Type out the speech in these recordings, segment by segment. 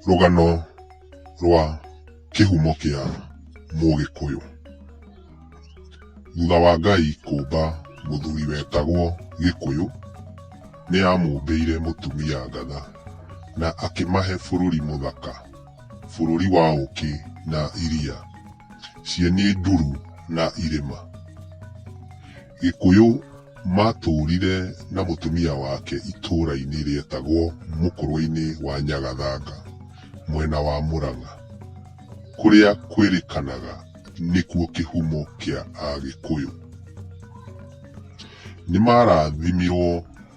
Rũgano rwa kĩhumo kĩa Mũgĩkũyũ. Thutha wa Ngai kũmba mũthuri wetagwo Gĩkũyũ, nĩ amũmbĩire mũtumia ngatha na akĩmahe bũrũri mũthaka, bũrũri wa ũkĩ na iria, cieni nduru na irĩma. Gĩkũyũ maatũũrire na mũtumia wake itũũra-inĩ rĩetagwo Mũkũrũe-inĩ wa Nyagathanga, mwena wa Mũrang'a, kũrĩa kwĩrĩkanaga nĩkuo kĩhumo kĩa Agĩkũyũ. Nĩ maarathimirũo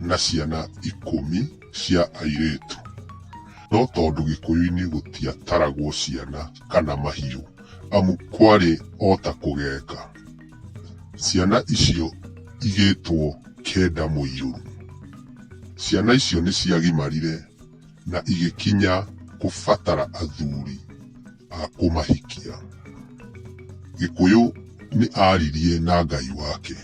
na ciana ikũmi cia airĩtu. No tondũ Gĩkũyũ-inĩ gũtiataragwo ciana kana mahiũ amu kwarĩ o ta kũgeka. Ciana icio igĩtwo Keda Mũirũru. Ciana icio nĩ ciagimarire na igĩkinya kũbatara athuri a kũmahikia. Gĩkũyũ nĩ aaririe na Ngai wake.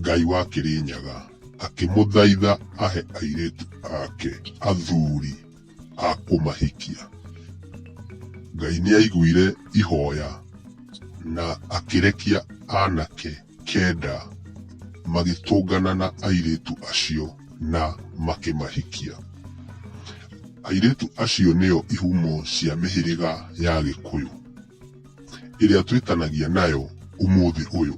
Ngai wa Kĩrĩnyaga akĩmũthaitha ahe airĩtu ake athuri. a kũmahikia. Ngai nĩ aiguire ihoya na akĩrekia anake kenda magĩtũngana na airĩtu acio na makĩmahikia. Airĩtu acio nĩo ihumo cia mĩhĩrĩga ya Gĩkũyũ ĩrĩa twĩtanagia nayo ũmũthĩ ũyũ.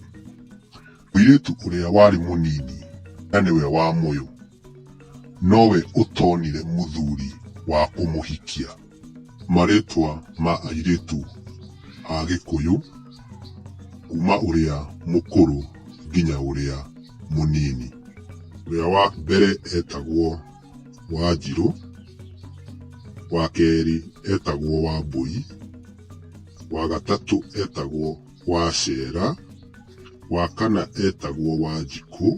Mũirĩtu ũrĩa warĩ mũnini na nĩwe wa mũyũ. Nowe ũtonire mũthuri wa kũmũhikia. Marĩtwa ma airĩtu a Gĩkũyũ kuma ũrĩa mũkũrũ nginya ũrĩa mũnini. Ũrĩa wa mbere etagwo Wanjirũ, wa kerĩ etagwo Wambũi, wa gatatũ etagwo Wacera, wa kana etagwo Wanjikũ.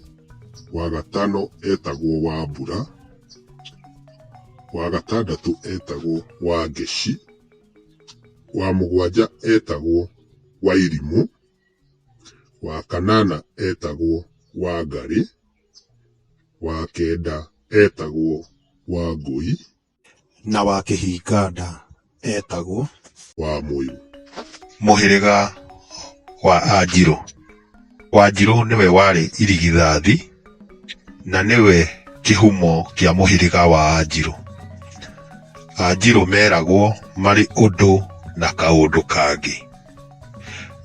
wa gatano etagwo Wambura, wa gatandatũ etagwo Wangeci, wa mũgwanja etagwo Wairimũ, wa kanana etagwo Wangarĩ, wa kenda etagwo Wangũi. Na wa Kĩhinga-nda eetagwo. Wa Mũirũ. Mũhĩrĩga wa Anjirũ. Wanjirũ nĩwe warĩ irigithathi na nĩwe kĩhumo kĩa mũhĩrĩga wa Anjirũ. Anjirũ meragwo marĩ ũndũ na kaũndũ kangĩ,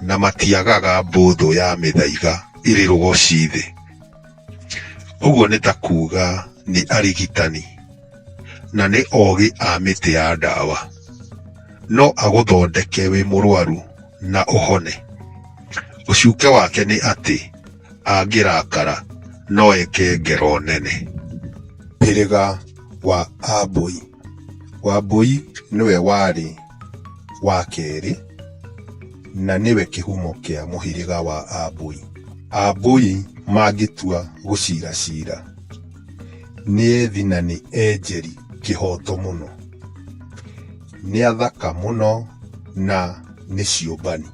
na matiagaga mbũthũ ya mĩthaiga ĩrĩ rũgoci thĩ. Ũguo nĩ ta kuuga nĩ arigitani. na nĩ ogĩ a mĩtĩ ya ndawa. No agũthondeke wĩ mũrwaru na ũhone. Ũcuke wake nĩ atĩ angĩrakara no eke ngero nene. Hĩrĩga wa Ambũi. Wambũi nĩwe warĩ wa kerĩ na nĩwe kĩhumo kĩa mũhĩrĩga wa Ambũi. Ambũi mangĩtua gũcira cira. Nĩ ethi na nĩ enjeri kĩhoto mũno. Nĩ athaka mũno na nĩ ciũmbani.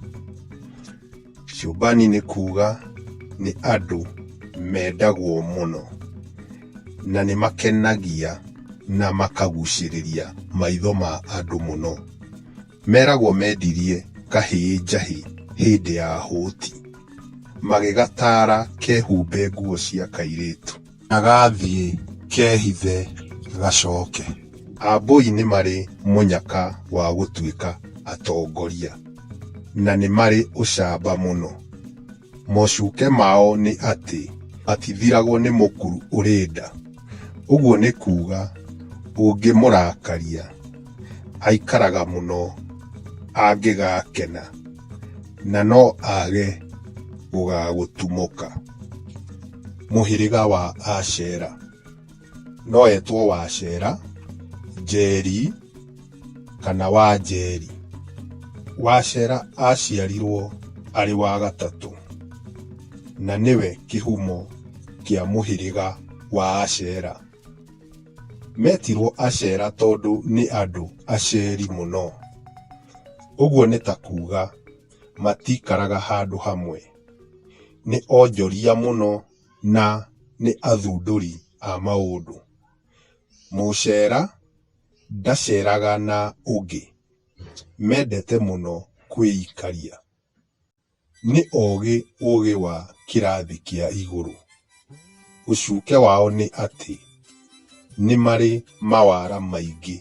Ciũmbani nĩ kuga nĩ andũ mendagwo mũno na nĩ makenagia na makagucĩrĩria maitho ma andũ mũno. Meragwo mendirie kahĩĩ njahĩ hĩndĩ ya hũti. Magĩgataara kehumbe nguo cia kairĩtu. Na gathiĩ kehithe gacoke. Ambũi nĩ marĩ mũnyaka wa gũtuĩka atongoria. Na nĩ marĩ ũcamba mũno. Mocuke mao nĩ atĩ matithiragwo nĩ mũkuru ũrĩ nda. Ũguo nĩ kuuga ũngĩmũrakaria aikaraga mũno angĩgakena na no age gũgagũtumũka. Mũhĩrĩga wa Ashera. no etwo Wacera, Njeri kana Wanjeri. Wacera aciarirwo arĩ wa gatatũ na nĩwe kĩhumo kĩa mũhĩrĩga wa Acera. Metirwo Acera tondũ nĩ andũ aceri mũno. Ũguo nĩ ta kuga matikaraga handũ hamwe. Nĩ onjoria mũno. na nĩ athundũri a maũndũ. Mũcera ndaceraga na ũngĩ, mendete mũno kwĩikaria. Nĩ ogĩ ũgĩ wa kĩrathi kĩa igũrũ. Ũcuke wao nĩ atĩ nĩ marĩ mawara maingĩ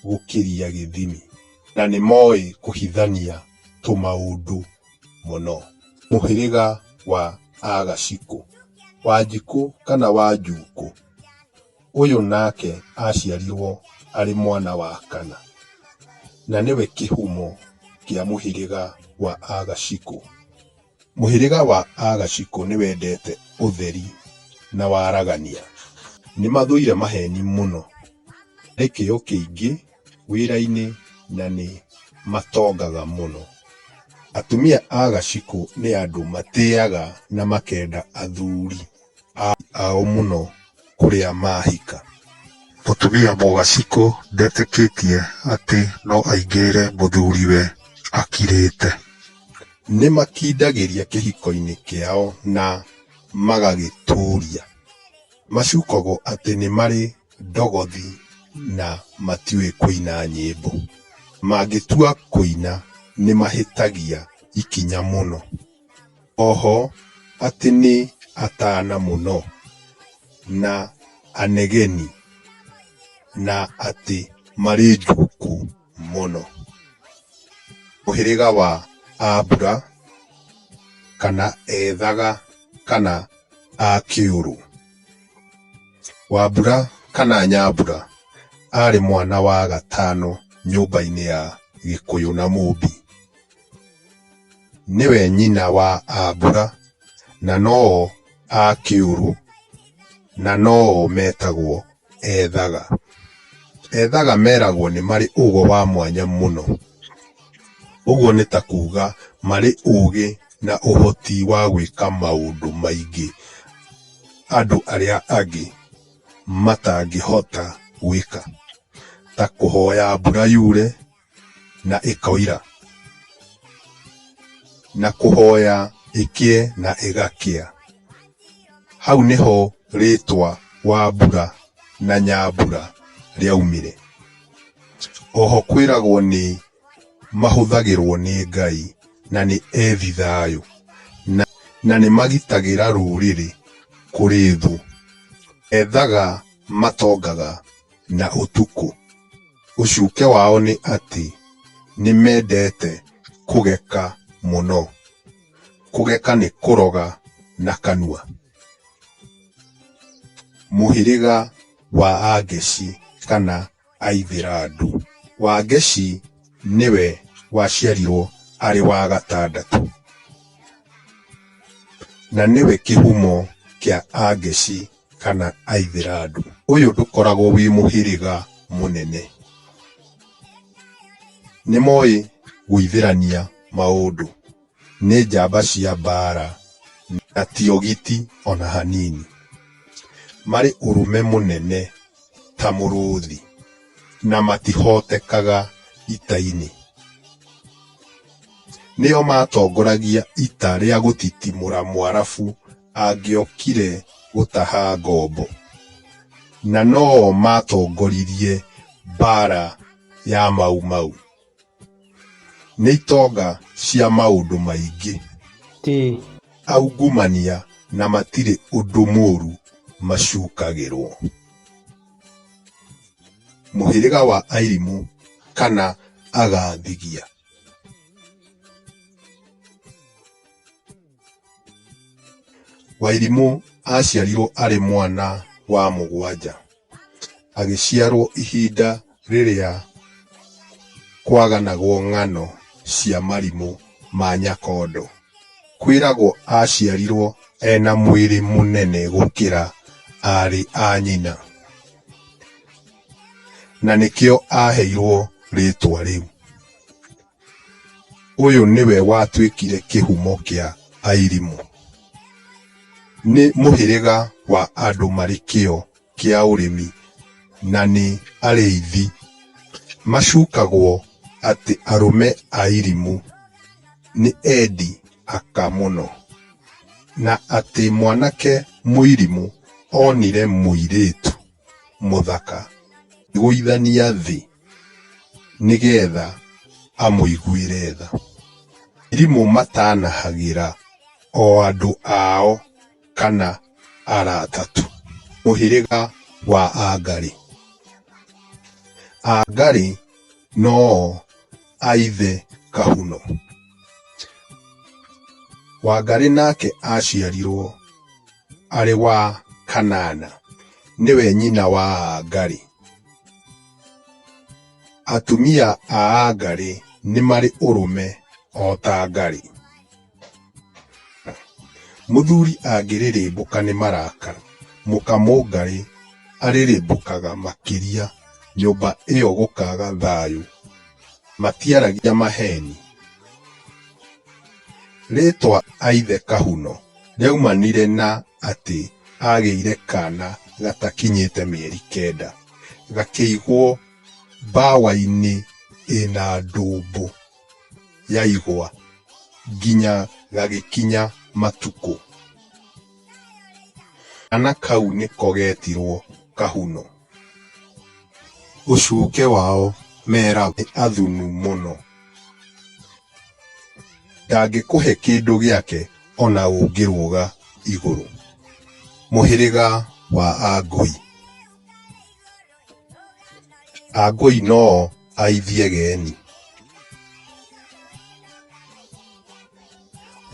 gũkĩria gĩthimi na nĩ moĩ kũhithania tũmaũndũ. mũno. Mũhĩrĩga wa Aagacikũ, Wanjikũ kana Wanjuukũ, ũyũ nake aaciarirwo arĩ mwana wa kana, na nĩwe kĩhumo kĩa mũhĩrĩga wa Aagacikũ. Mũhĩrĩga wa Aagacikũ nĩ wendete ũtheri na waragania. Nĩ mathũire maheeni mũno. Nĩ kĩyo kĩingĩ. wĩra-inĩ na nĩ matongaga mũno. Atumia a gacikũ nĩ andũ matĩaga na makenda athuri ao mũno kũrĩa mahika. Mũtumia mũgacikũ ndetĩkĩtie atĩ no aingĩrĩre mũthuriwe akirĩte. Nĩ makindagĩria kĩhiko-inĩ kĩao na magagĩtũria. Macukagwo atĩ nĩ marĩ ndogothi na matiũĩ kũina nyĩmbo. Mangĩtua kũina nĩ mahĩtagia ikinya mũno. Oho atĩ nĩ atana mũno na anegeni na atĩ marĩ njuku mũno. Mũhĩrĩga wa ambura kana ethaga kana a kĩũrũ. Wambura kana Nyambura arĩ mwana wa gatano nyũmba-inĩ ya Gĩkũyũ na Mũmbi. Nĩwe nyina wa Ambura na no o a Kĩũrũ na no o metagwo Ethaga. Ethaga meragwo nĩ marĩ ũgo wa mwanya mũno, ũguo nĩ ta kuga marĩ ũgĩ na ũhoti wa gwĩka maũndũ maingĩ. andũ arĩa angĩ matangĩhota gwĩka, ta kũhoya mbura yure na ĩkoira, na kũhoya ĩkĩe na ĩgakĩa. Hau nĩho rĩtwa Wambura na Nyambura rĩaumire. Oho kwĩragwo nĩ mahũthagĩrũo nĩ Ngai na nĩ ethi thayũ, na, na nĩ magitagĩra rũrĩrĩ kũrĩ thũ. Ethaga matongaga na ũtukũ. Ũcuke wao nĩ atĩ nĩ mendete kũgeka mũno. Kũgeka nĩ kũroga na kanua. Mũhĩrĩga wa Angeshi kana. Aithĩrandu. Wangeshi nĩwe waciarirwo arĩ wa gatandatũ. Na nĩwe kĩhumo kĩa Angeshi kana Aithĩrandu. Ũyũ ndũkoragwo wĩ mũhĩrĩga mũnene. Nĩmoĩ gũithĩrania maũndũ. Nĩ njamba cia mbaara na ti ogiti o na hanini. Marĩ ũrũme mũnene ta mũrũũthi na matihootekaga ita-inĩ. Nĩo maatongoragia ita rĩa gũtitimũra Mũarabu angĩokire gũtaha ngombo, na no o maatongoririe mbaara ya Mau Mau. Nĩ itonga cia maũndũ maingĩ. Ĩĩ. Aungumania na matirĩ ũndũ mũũru macukagĩrũo. Mũhĩrĩga wa Airimu kana Agathigia. Wairimũ aaciarirwo arĩ mwana wa mũgwanja. Agĩciarwo ihinda rĩrĩa kwaganagwo ng'ano cia marimũ ma Nyakondo. Kwĩragwo aaciarirwo ena mwĩrĩ mũnene gũkĩra aarĩ a nyina. Na nĩkĩo aaheirwo rĩtwa rĩu. Ũyũ nĩwe watuĩkire kĩhumo kĩa Airimu. Nĩ mũhĩrĩga wa andũ marĩ kĩo kĩa ũrĩmi na nĩ arĩithi. Macukagwo atĩ arũme a Airimu nĩ endi aka mũno na atĩ mwanake Mũirimu onire mũirĩtu. mũthaka gũithania thĩ nĩgetha amũiguĩre tha. Arimũ matanahagĩra o andũ ao kana arata tu. Mũhĩrĩga wa Angarĩ. Angarĩ no o a ithe Kahuno. Wangarĩ nake aciarirwo. arĩ wa Kanana, nĩwe nyina wa Aagari. Atumia a Aagari nĩ marĩ ũrũme o ta Aagari. Mũthuri angĩrĩrĩmbũka nĩ marakara, mũka Mũngarĩ arĩrĩmbũkaga makĩria nyũmba ĩyo gũkaaga thayũ. Matiaragia maheeni. Rĩĩtwa Aithe Kahuno rĩaumanire na atĩ aagĩire kaana gatakinyĩte mĩeri kenda, gakĩigwo mbawa-inĩ ĩna ndũmbũ ya igwa nginya gagĩkinya matukũ. Kaana kau nĩko geetirwo Kahuno. Ũcuke wao meragwo nĩ athunu mũno. Ndangĩkũhe kĩndũ gĩake o na ũngĩrũga igũrũ. Mũhĩrĩga wa Angũi. Angũi no o aithie geni.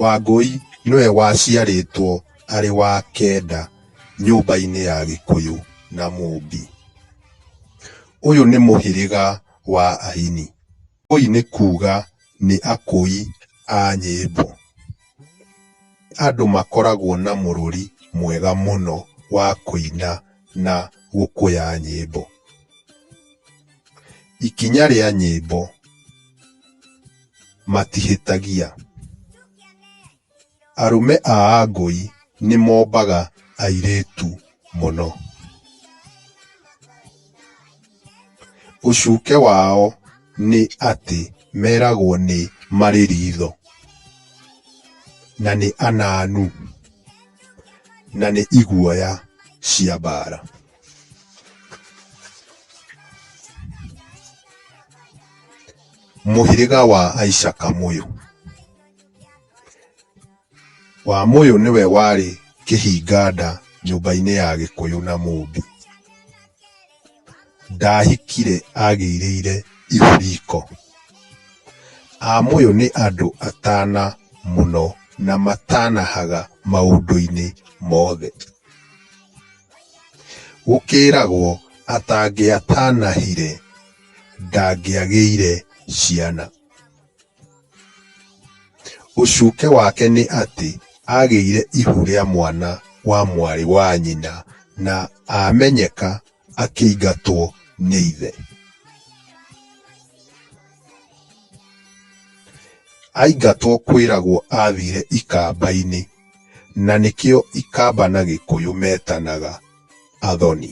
Wangũi nĩwe waciarĩtwo arĩ wa kenda. nyũmba-inĩ ya gĩkũyũ na mũmbi. Ũyũ nĩ mũhĩrĩga wa aini, ũyũ nĩ kuga nĩ akũi a nyĩmbo. Andũ makoragwo na mũrũri mwega mũno wa kũina na gũkũya nyĩmbo. Ikinya rĩa nyĩmbo matihĩtagia. Arũme a Angũi nĩ mombaga airĩtu mũno. Ũcuke wao nĩ atĩ meragwo nĩ marĩ ritho, na nĩ ananu, na nĩ iguoya cia mbara. Mũhĩrĩga wa Aicakamũyũ. Wamũyũ nĩwe warĩ kĩhinganda nyũmba-inĩ ya Gĩkũyũ na Mũmbi. Ndahikire agĩirĩire ihu riko. Amũyũ nĩ andũ atana mũno na matanahaga maũndũ-inĩ mothe. Gũkĩragwo atangĩatanahire ndangĩagĩire ciana. Ũcuke wake nĩ atĩ agĩire ihu rĩa mwana wa mwarĩ wa nyina na amenyeka akĩingatwo nĩ ithe. Aingatwo kwĩragwo athire ikamba-inĩ na nĩkĩo ikamba na gĩkũyũ metanaga athoni.